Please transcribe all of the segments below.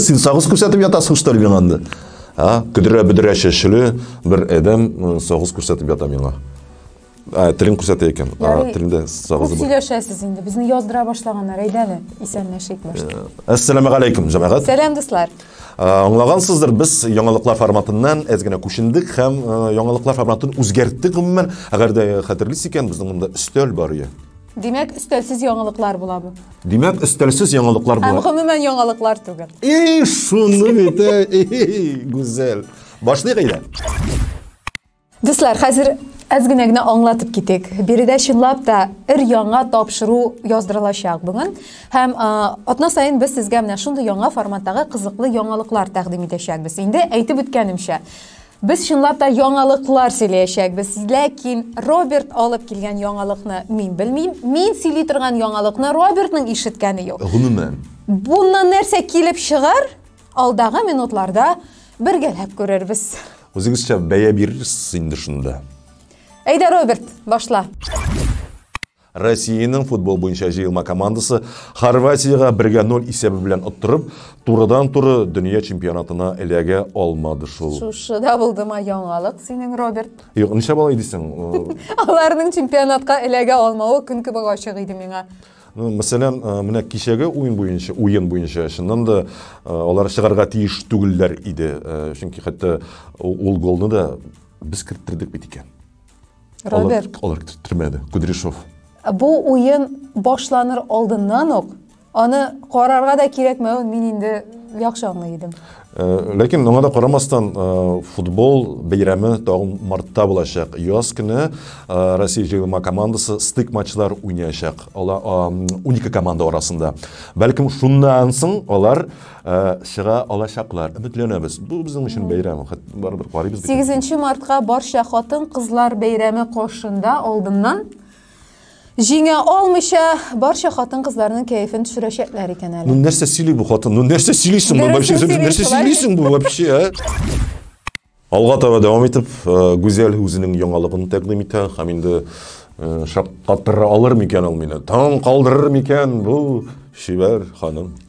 Син сагыз күрсәтеп ятасың, что ли, миңа анда? А, көдрә-бөдрә чәчле бер әдәм сагыз күрсәтеп ята миңа. Ә, телен күрсәтә икән. А, телендә сагыз бар. Сөйләшәсез инде. Безне яздыра башлаганнар. Әйдәле, исәнләшик башта. Ассаламу алейкум, җәмәгать. Сәлам, дуслар. Аңлагансыздыр, без яңалыклар форматыннан әз генә күчендек һәм яңалыклар форматын үзгәрттек гомумән. Әгәр дә хәтерлисез икән, безнең монда өстәл бар иде. Димәк, өстәлсез яңалыклар була бу. Димәк, өстәлсез яңалыклар була. Һәм гомумән яңалыклар түгел. И, шуны бит, әй, гүзәл. Башлыйк әйдә. Дуслар, хәзер әз генә генә аңлатып китик. Биредә чынлап та ир яңа тапшыру яздырылачак бүген. Һәм атна саен без сезгә менә шундый яңа форматтагы кызыклы яңалыклар тәкъдим итәчәкбез. Инде әйтеп үткәнемчә, без чынлап та яңалыклар сөйләячәкбез. Ләкин Роберт алып килгән яңалыкны мин белмим. Мин сөйли торган яңалыкны Робертның ишеткәне юк. Гомумән. Буннан нәрсә килеп чыгар? Алдагы минутларда бергәләп күрербез. Үзегезчә бәя бирерсез инде шунда. Әйдә, Роберт, башла. Россиянең футбол буенча җыелма командасы Хорватиягә 1-0 исәбе белән оттырып, турыдан-туры дөнья чемпионатына эләгә алмады шул. Шушы да булдыма яңалык синең, Роберт. Юк, нишләп алай дисең? Аларның чемпионатка эләгә алмавы көн кебек ачык иде миңа. Мәсәлән, менә кичәге уен буенча, уен буенча, чыннан да алар чыгарга тиеш түгелләр иде. Чөнки хәтта ул голны да без керттердек бит икән. Роберт. Алар, алар керттермәде. Кудряшов. Бу уен башланыр алдыннан ук аны карарга да кирәкмәвен мин инде яхшы аңлый идем. Э, ләкин моңа да карамастан э, футбол бәйрәме тагын мартта булачак яз көне э, россия җыелма командасы стык матчлар уйнаячак алар 12 команда арасында бәлкем шуннан соң алар чыга алачаклар өметләнәбез бу безнең өчен бәйрәм барыбер карыйбыз 8 мартка барча хатын кызлар бәйрәме каршында алдыннан Җиңә алмыйча, барча хатын-кызларның кәефен төшерәчәкләр икән әле. Ну нәрсә сөйли бу хатын? Ну нәрсә сөйлисең бу вообще? Нәрсә сөйлисең бу вообще, а? Алга таба дәвам итеп, э, Гүзәл үзенең яңалыгын тәкъдим итә һәм инде э, шаккатыра алыр микән ул мине? Таң калдырыр микән бу чибәр ханым?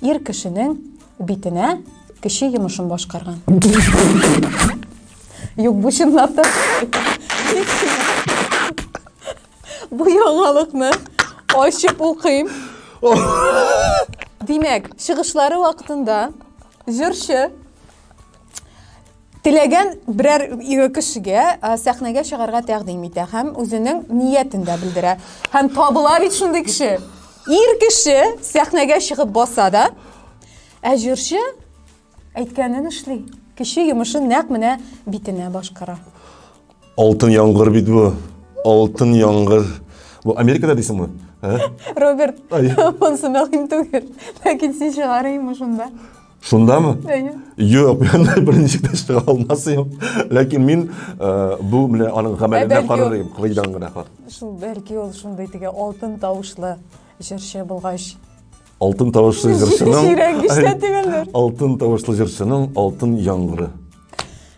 Ир кешенең битенә кеше йомышын башкарган. Юк, бу чынлап та. Бу яңалыкны ачып укыйм. Димәк, чыгышлары вакытында җырчы Теләгән берәр кешегә сәхнәгә чыгарга тәкъдим итә һәм үзенең ниятен дә белдерә. Һәм табыла бит шундый кеше. Ир кеше сәхнәгә чыгып баса да, ә җырчы әйткәнен эшли. Кеше йомышын нәкъ менә битенә башкара. Алтын яңгыр бит бу. Алтын яңгыр. Бу Америкада дисеңме? Роберт, монсы мәгълүм түгел. Ләкин син чыгарыймы шунда? Шундамы? Әйе. Юк, мин бер ничек тә чыга алмасым. Ләкин мин э, бу менә аның гамәленә карар идем, кылыйдан гына хат. Шул бәлки ул шундый теге алтын тавышлы җырчы булгач. Алтын тавышлы җырчының. Җирәнгештә тигәннәр. Алтын тавышлы җырчының алтын яңгыры.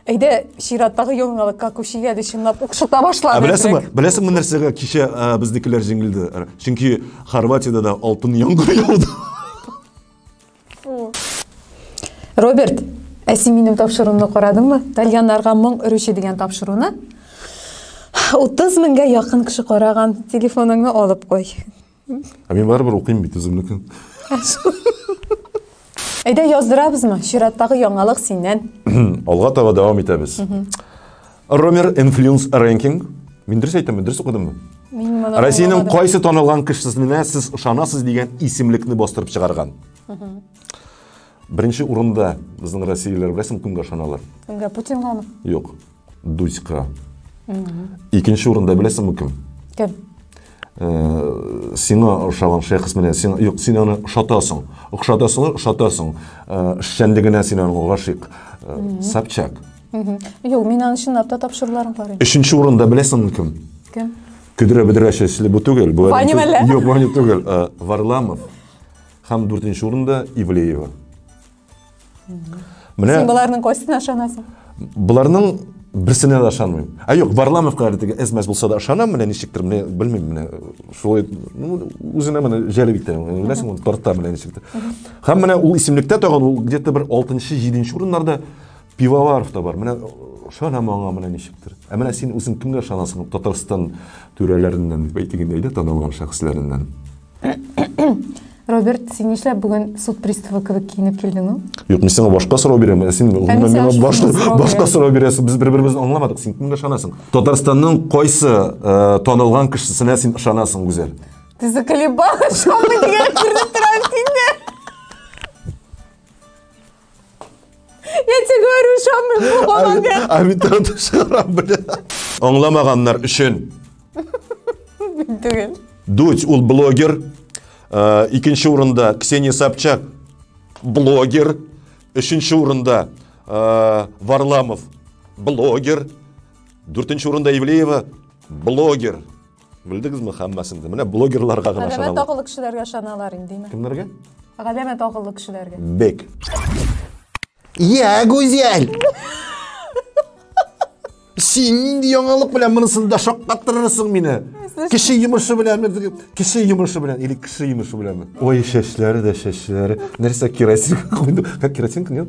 Әйдә, чираттагы яңалыкка күчегә дә чынлап укшыта башлады. Ә беләсеңме? Беләсеңме нәрсәгә кичә э, безнекеләр җиңелде? Чөнки Хорватиядә дә алтын яңгыр яуды. Роберт, ә син минем тапшыруымны карадыңмы? Тальяннарга моң өрүче дигән тапшыруны. 30 меңгә якын кеше караган. Телефоныңны алып кой. Ә мин барыбер укыйм бит үземнекен. Әйдә яздырабызмы? Чираттагы яңалык синнән. Алга таба дәвам итәбез. Romer Influence Ranking. Мин дөрес әйтәмме, дөрес укыдыммы? Мин моны Россиянең аңламадым. кайсы танылган кешесенә сез ышанасыз дигән исемлекне бастырып чыгарган. Беренче урында безнең россиялеләр беләсең кемгә ышаналар? Кемгә Путингамы? Юк. Дуська. Икенче урында беләсеңме кем? Кем? Э, сиңа ошаган шәхес менә сиңа юк син аны ошатасың ошатасың ошатасың э, эшчәнлегенә син аны гашыйк э, собчак юк мин аны чынлап та тапшыруларым бар инде өченче урында беләсеңме кем кем көдрә бөдрә чәчле бу түгел бу ваня әллә юк ваня түгел варламов һәм дүртенче урында ивлеева Менә Син боларның кайсына ышанасың? Боларның берсенә дә ышанмыйм. Ә юк, Варламовка әле теге әзмәс булса да ышанам, менә ничектер, менә белмим, менә шулай, ну, үзенә менә җәлеп итә, беләсең, ул тарта менә ничектер. Һәм менә ул исемлектә тагын ул где-то бер 6-нчы, 7-нче урыннарда Пивоваров та бар. Менә ышанам аңа менә ничектер. Ә менә син үзең кемгә ышанасың? Татарстан түрәләреннән, әйтегендә, танылган шәхесләреннән. Роберт, син нишләп бүген суд приставы кебек киенеп килдең ул? Юк, мин сиңа башка сорау бирәм. Ә син гомумән миңа башка башка сорау бирәсең. Без бер-беребезне аңламадык. Син кемгә ышанасың? Татарстанның кайсы э, танылган кешесенә син ышанасың, Гүзәл? Ты заколебалась, что мы дигән кирдә торам синдә. Я тебе говорю, шамы болмамен. А мин тартып чыгарам, бля. Аңламаганнар өчен. Түгел. Дудь ул блогер. Э, икенче урында Ксения Собчак блогер. Өченче урында э, Варламов блогер. Дүртенче урында Ивлеева блогер. Белдегезме хәммәсен дә? Менә блогерларга гына Галәмәт ышаналар. акыллы кешеләргә ышаналар инде. имә. Кемнәргә? Галәмәт акыллы кешеләргә. Бек. Я, Гүзәл! Син нинди яңалык белән монысын да шаккаттырырсың мине. Кеше йомышы белән, кеше йомышы белән или кеше йомышы белән. Ой, чәчләре дә чәчләре. Нәрсә керосин куйды? Как керосин куйды?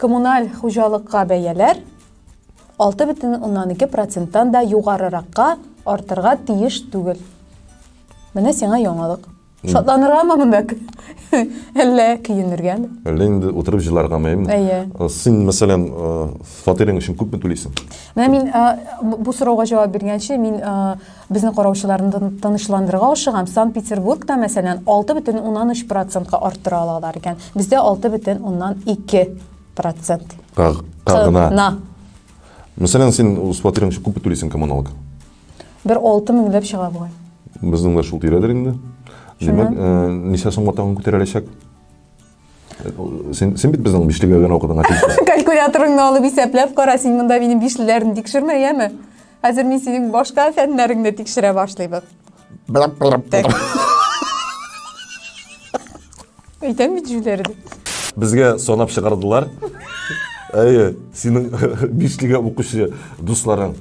Коммуналь хуҗалыкка бәяләр 6,2 проценттан да югарыракка артырга тиеш түгел. Менә сиңа яңалык. Шатланыргамы монда? Әллә көенергәме? Әллә инде утырып җыларгамы? Әйе. Э, син, мәсәлән, э, фатирың өчен күпме түлисең? Менә мин э, бу сорауга җавап биргәнче, мин Безне караучыларны тынычландырырга ашыгам, Санкт-Петербургта, мәсәлән, 6,3 процентка арттыра алалар икән. Бездә 6,2 процент. Кагына. Мәсәлән, син үз фатирың өчен күпме түлисең коммуналка? Бер 6 меңләп чыга бугай. Безнең дә шул тирәдер инде. Димәк, ничә сумга тагын күтәреләчәк? Син, син бит безнең бишлегә генә укыдың, Калькуляторыңны алып исәпләп кара, син монда минем бишлеләрне тикшермә, яме? Хәзер мин синең башка фәннәреңне тикшерә башлыйбыз. Так. Әйтәм бит җүләре дип. Безгә санап чыгардылар. Әйе, синең бишлегә укучы дусларың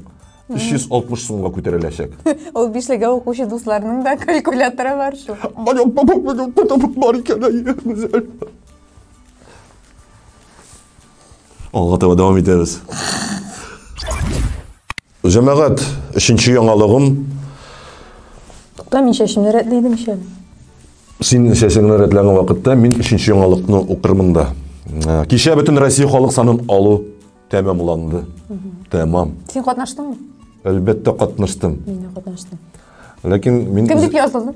360 сумга күтәреләчәк. Ул бишлегә укучы дусларының да калькуляторы бар шул. Балык, балык, балык, балык, бар икән, әйе, гүзәл. Алга таба дәвам итәбез. Җәмәгать, өченче яңалыгым. Тукта, мин чәчемне рәтләдем ишә. Син чәчеңне рәтләгән вакытта мин өченче яңалыкны укырмын да. Ә, Кичә бөтен Россия халык санын алу тәмамланды. Тәмам. Син катнаштыңмы? Әлбәттә катнаштым. Мин дә катнаштым. Ләкин мин Кем дип язылдың?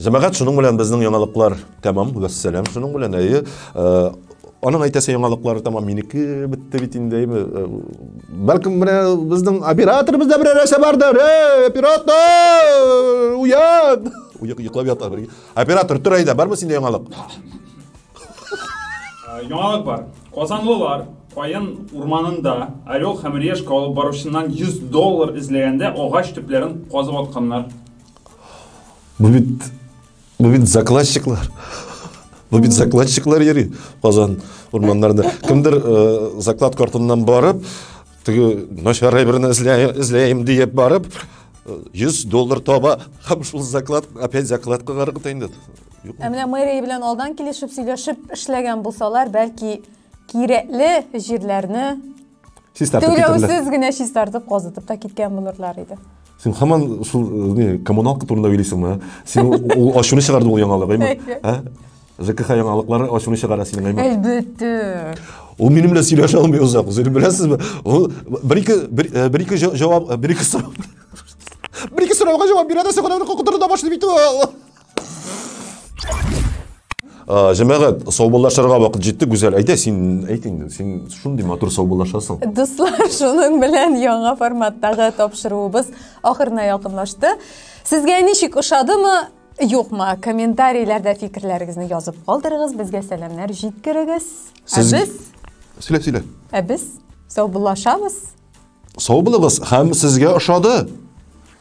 Җәмәгать, шуның белән безнең яңалыклар тәмам. Вәссәлам, шуның белән, әйе. Аның әйтәсе яңалыклары тәмам минеке бетте бит инде, әйме. Бәлкем менә безнең операторыбыз да берәр нәрсә бар да, эй, оператор! Уян! Уяк йоклап ята. Оператор, тор әйдә, бармы синдә яңалык? Яңалык бар. Казанлылар Каен урманында орел һәм решка алып баручыннан 100 доллар эзләгәндә агач төпләрен казып атканнар. Бу бит бу бит закладчиклар. Бу бит закладчиклар йөри Казан урманнарында. Кемдер э, заклад картыннан барып, теге начарай берне эзләйем диеп барып, 100 э, доллар таба һәм шул заклад опять заклад кылар кыта инде. Ә менә мэрия белән алдан килешеп сөйләшеп эшләгән булсалар, бәлки кирәкле җирләрне чистартып түләүсез генә чистартып казытып та киткән булырлар иде сен хаман шул э, не коммуналка турында уйлыйсыңмы ә? син ул ачуны чыгарды ул яңалык әйме ә жкх яңалыклары ачуны чыгара синең әйме әлбәттә ул минем белән сөйләшә алмый озак сез беләсезме ул бер ике бер э, ике җавап э, бер ике сорау бер ике сорауга җавап бирә дә соңра куркытырда башлый бит ул Ә, җәмәгать, саубуллашырга вакыт җитте, Гүзәл. Әйдә, син әйт инде, син шундый матур саубуллашасың. Дуслар, шуның белән яңа форматтагы тапшыруыбыз ахырына якынлашты. Сезгә ничек ошадымы? Юкмы, комментарийләрдә фикерләрегезне язып калдырыгыз, безгә сәламнәр җиткерегез. Сез... Ә без... Сөйлә, сөйлә. Ә без саубуллашабыз. Сау булыгыз, һәм сезгә ошады.